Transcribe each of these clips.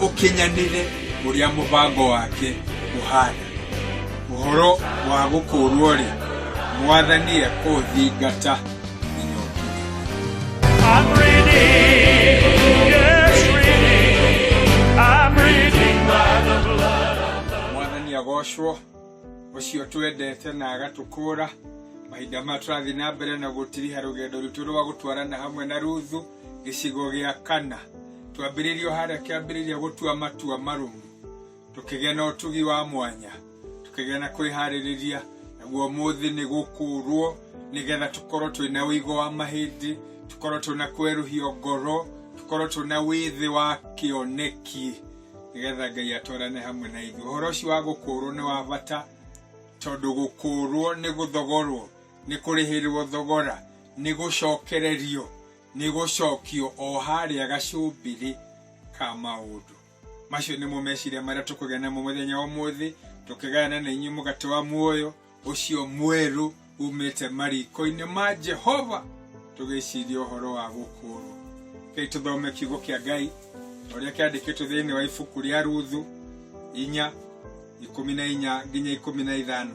ũkinyanĩre ũrĩa mũbango wake ũhana. Ũhoro wa gũkũũrwo-rĩ, Mwathani ekũũthingata nginya ũkinyanĩre. I'm redeemed, yes, redeemed. I'm redeemed by the blood of the mwathani agocwo ũcio twendete na agatũkũra mahinda maya tũrathiĩ na mbere na gũtiriha rũgendo rwitũ rwa gũtwarana hamwe na ruthu gĩcigo gĩa kana twambĩrĩrio harĩa kĩambĩrĩria gũtua matua marũmu tũkĩgĩa na ũtugi wa mwanya tũkĩgĩa na kwĩharĩrĩria naguo mũthĩ nĩ gũkũrwo nĩgetha tũkorwo twĩ na ũigo wa mahĩndĩ tũkorwo twĩ na kwerũhio ngoro tũkorwo twĩ na wĩthĩ wa kĩoneki nĩgetha ngai atwarane hamwe na ithuĩ ũhoro ũcio wa gũkũrwo nĩ wa bata tondũ gũkũrwo nĩ gũthogorwo nĩ kũrĩhĩrwo thogora, nĩ gũcokererio, nĩ gũcokio o harĩa gacumbĩrĩ ka maũndũ. Macio nĩmo meciria marĩa tũkũgĩa namo mũthenya wa ũmũthĩ, tũkĩgayana na inyuĩ mũgate wa muoyo ũcio mwerũ umĩte mariko-inĩ ma Jehova, tũgĩciria ũhoro wa gũkũũrwo. Kei tũthome kiugo kĩa Ngai o ũrĩa kĩandĩkĩtwo thĩinĩ wa ibuku rĩa Ruthu inya ikũmi na inya nginya ikũmi na ithano.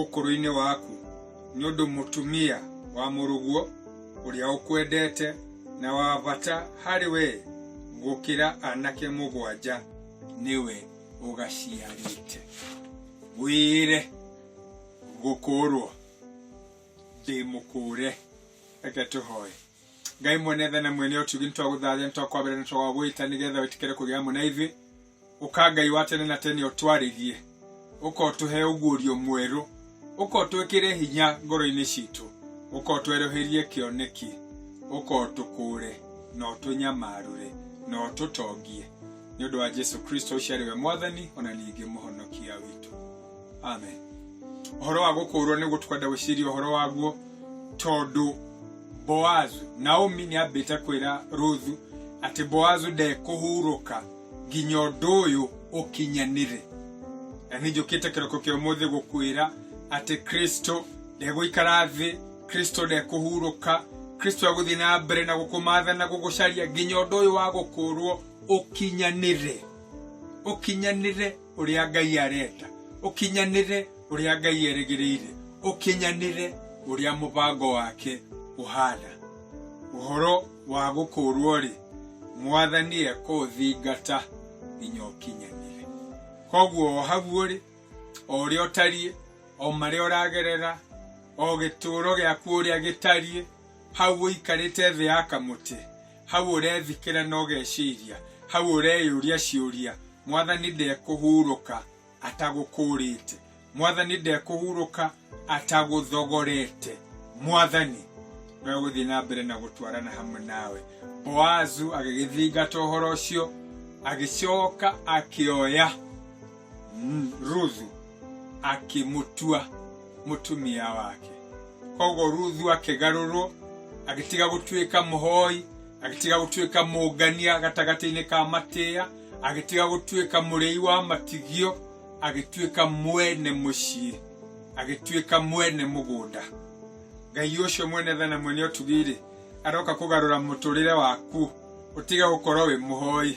ũkũrũ-inĩ waku nĩ ũndũ mũtumia wa mũrũguo ũrĩa ũkwendete na wa bata harĩ we gũkĩra anake mũgwanja nĩwe ũgaciarĩte wĩre gũkũũrwo ndĩ mũkũũre reke tũhoe ngai mwene tha na mwene ũtugi nĩ twagũthathia nĩ twakwambĩra nĩ twagwĩta nĩ getha wĩtĩkĩre kũgĩa hamwe na ithuĩ ũka ngai wa tene na tene ũtwarĩrie ũka ũtũhe ũguũrio mwerũ ũka ũtwĩkĩre hinya ngoro-inĩ citũ ũka ũtwerũhĩrie kĩoneki ũka ũtũkũũre na ũtũnyamarũre na ũtũtongie nĩ ũndũ wa jesu kristo ũcio arĩ we mwathani ona ningĩ mũhonokia witũ amen ũhoro wa gũkũũrwo nĩguo tũkwenda gwĩciria ũhoro waguo tondũ boazu naomi nĩ ambĩte kwĩra ruthu atĩ boazu ndekũhurũka nginya ũndũ ũyũ ũkinyanĩre na nĩ njũkĩte kĩroko kĩa ũmũthĩ gũkwĩra atĩ kristo ndegũikara thĩ kristo ndekũhurũka kristo egũthiĩ na mbere na gũkũmatha na gũgũcaria nginya ũndũ ũyũ wa gũkũũrwo ũkinyanĩre ũkinyanĩre ũrĩa ngai arenda ũkinyanĩre ũrĩa ngai erĩgĩrĩire ũkinyanĩre ũrĩa mũbango wake ũhana ũhoro wa gũkũũrwo-rĩ, Mwathani ekũũthingata nginya ũkinyanĩre. Koguo o hau ũrĩ, o ũrĩa ũtariĩ, o marĩa ũragerera, o gĩtũũro gĩaku ũrĩa gĩtariĩ, hau ũikarĩte thĩ ya kamũtĩ, hau ũrethikĩra na ũgeciria, hau ũreyũria ciũria, Mwathani ndekũhurũka. atagũkũũrĩte mwathani ndekũhurũka atagũthogorete mwathani no gũthiĩ na mbere na gũtwarana hamwe nawe boazu agĩgĩthingata ũhoro ũcio agĩcoka akĩoya mm, ruthu akĩmũtua mũtumia wake koguo ruthu akĩgarũrwo agĩtiga gũtuĩka mũhoi agĩtiga gũtuĩka mũngania gatagatĩ-inĩ ka matĩa agĩtiga gũtuĩka mũrĩi wa matigio agĩtuĩka mwene mũciĩ agĩtuĩka mwene mũgũnda ngai ũcio mwene thana mwene ũtugi-rĩ aroka kũgarũra mũtũrĩre waku ũtige gũkorwo wĩ mũhoi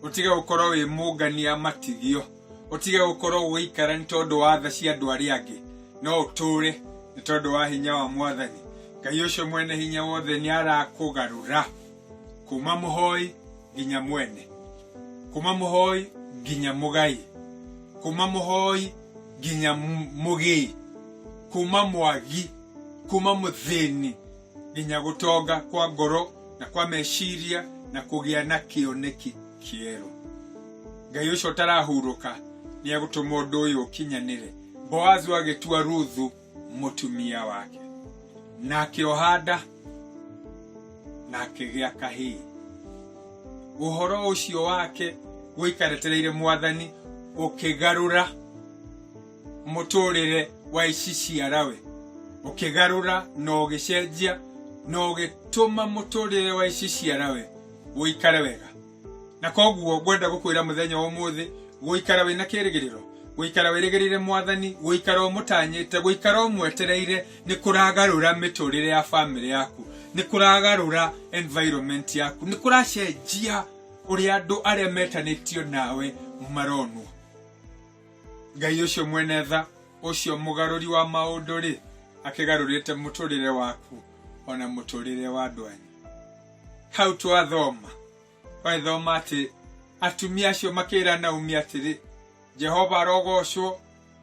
ũtige gũkorwo wĩ mũngania matigio ũtige gũkorwo ũgĩikara nĩ tondũ wa tha cia andũ arĩa angĩ no ũtũre nĩ tondũ wa hinya wa mwathani ngai ũcio mwene hinya wothe nĩ arakũgarũra kuma mũhoi nginya mwene kuma mũhoi nginya mũgai kuma mũhoi nginya m- mũgĩi kuma mwagi kuma mũthĩni nginya gũtonga kwa ngoro na kwa meciria na kũgĩa na kĩoneki kĩerũ ngai ũcio ũtarahurũka nĩ egũtũma ũndũ ũyũ ũkinyanĩre boazu agĩtua ruthu mũtumia wake na akĩoha nda na akĩgĩa kahĩĩ ũhoro ũcio wake gũikaretereire mwathani ũkĩgarũra mũtũrĩre wa ici ciarawe ũkĩgarũra na ũgĩcenjia na ũgĩtũma mũtũrĩre wa ici ciarawe ũikare wega na koguo ngwenda gũkwĩra mũthenya wa ũmũthĩ gũikara wĩna kĩrĩgĩrĩro gũikara wĩrĩgĩrĩire mwathani gũikara ũmũtanyĩte gũikara ũmwetereire nĩ kũragarũra mĩtũrĩre ya bamĩrĩ yaku nĩ kũragarũra environment yaku nĩ kũracenjia ũrĩa andũ arĩa metanĩtio nawe maronwo ngai ũcio mwene tha ũcio mũgarũri wa maũndũ-rĩ akĩgarũrĩte mũtũrĩre waku ona mũtũrĩre wa andũ anyu hau twathoma twagĩthoma atĩ atumia acio makĩra naomi atĩrĩ jehova arogocwo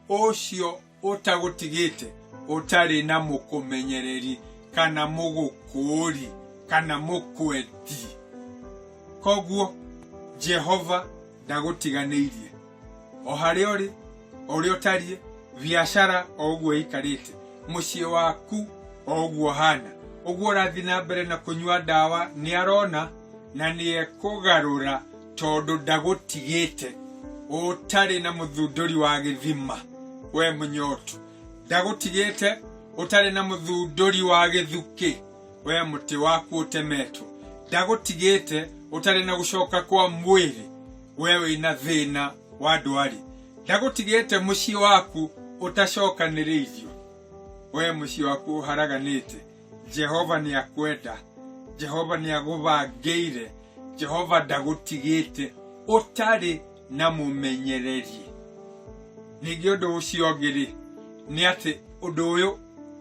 ũcio ũtagũtigĩte ũtarĩ na mũkũmenyereri kana mũgũkũũri kana mũkwendi koguo jehova ndagũtiganĩirie o harĩa ũrĩ o ũrĩa ũtariĩ biacara o ũguo ĩikarĩte mũciĩ waku o ũguo hana ũguo ũrathiĩ na mbere na kũnyua ndawa nĩ arona na nĩ ekũgarũra tondũ ndagũtigĩte ũtarĩ na mũthundũri wa gĩthima we mũnyotu ndagũtigĩte ũtarĩ na mũthundũri wa gĩthukĩ we mũtĩ waku ũtemetwo ndagũtigĩte ũtarĩ na gũcoka kwa mwĩrĩ we wĩna thĩna wa ndwarĩ ndagũtigĩte mũciĩ waku ũtacokanĩrĩirio we mũciĩ waku ũharaganĩte jehova nĩ akwenda jehova nĩ agũbangĩire jehova ndagũtigĩte ũtarĩ na mũmenyererie ningĩ ũndũ ũcio ũngĩ-rĩ nĩ atĩ ũndũ ũyũ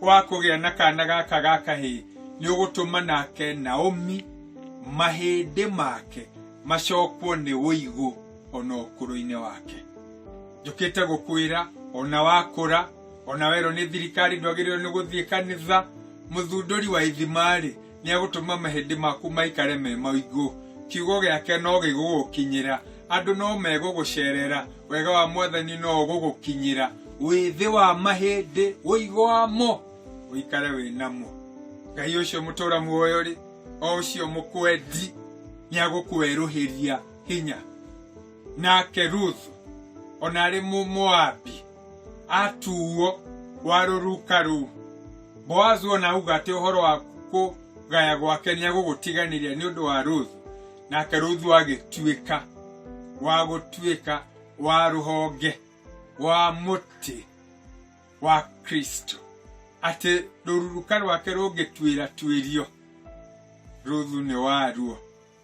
wa kũgĩa na kana gaka ga kahĩĩ nĩ ũgũtũma nake naomi mahĩndĩ make macokwo nĩ ũigũ ona ũkũrũ-inĩ wake njũkĩte gũkwĩra ona wakũra ona werwo nĩ thirikari ndwagĩrĩirwo nĩ gũthiĩ kanitha mũthundũri wa ithima-rĩ nĩegũtũma mahĩndĩ maku maikare me maingũ kiugo gĩake no gĩgũgũkinyĩra andũ no megũgũcerera wega wa mwathani no ũgũgũkinyĩra wĩthĩ wa mahĩndĩ ũigwamo ũikare wĩnamo ngai ũcio mũtũra muoyo rĩ o ũcio mũkwendi nĩagũkwerũhĩria hinya nake ruthu ona arĩ mũmoabi atuuo wa rũruka rũu boazu ona auga atĩ ũhoro wa kũgaya gwake nĩ agũgũtiganĩria nĩ ũndũ wa rũthu nake rũthu agĩtuĩka wa gũtuĩka wa rũhonge wa mũtĩ wa kristo atĩ rũruruka rwake rũngĩtuĩra tuĩrio rũthu nĩ waruo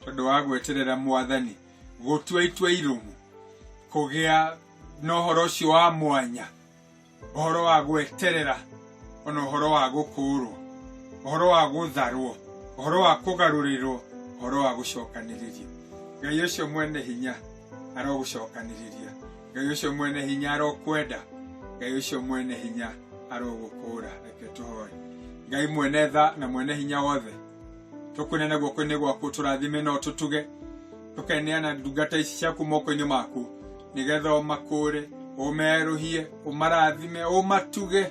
tondå wa gweterera mwathani gũtua itua irũmu kũgĩa na ũhoro ũcio wa mwanya ũhoro wa gweterera ona ũhoro wa gũkũũrwo ũhoro wa gũtharwo ũhoro wa kũgarũrĩrwo ũhoro wa gũcokanĩrĩrio ngai ũcio mwene hinya arogũcokanĩrĩria ngai ũcio mwene hinya arokwenda ngai ũcio mwene hinya arogũkũũra reke tũhoe ngai mwene tha na mwene hinya wothe tũkwĩnene guoko-inĩ gwaku tũrathime no tũtuge tũkeneana ndungata ici ciaku moko-inĩ maku nĩgetha ũmakũre ũmerũhie ũmarathime ũmatuge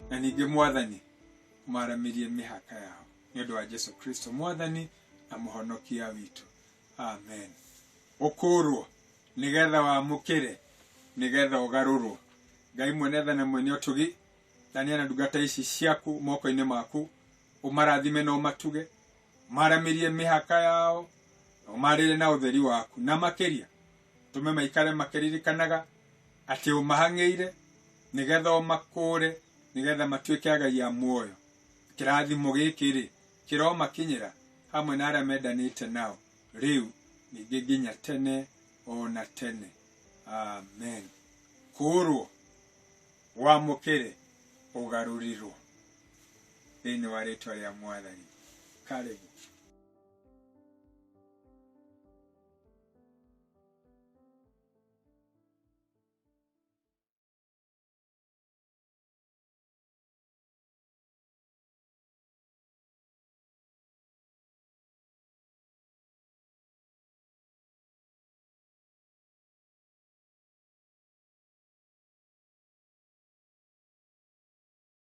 na ningĩ mwathani ũmaramĩrie mĩhaka yao nĩ ũndũ wa jesu kristo mwathani na mũhonokia witũ amen ũkũrwo nĩgetha wamũkĩre nĩgetha ũgarũrwo ngai mwene tha na mwene ũtugi tania na ndungata ici ciaku moko-inĩ maku ũmarathime na ũmatuge maramĩrie mĩhaka yao na ũmarĩre na ũtheri waku na makĩria tũme maikare makĩririkanaga atĩ ũmahang'ĩire nĩgetha ũmakũre nĩgetha matuĩke agai a muoyo kĩrathimo gĩkĩ rĩ kĩromakinyĩra hamwe na arĩa mendanĩte nao rĩu ningĩ nginya tene ona tene amen kũrwo wamũkĩre ũgarũrirwo thĩinĩ wa rĩtwa rĩa mwathani karĩbu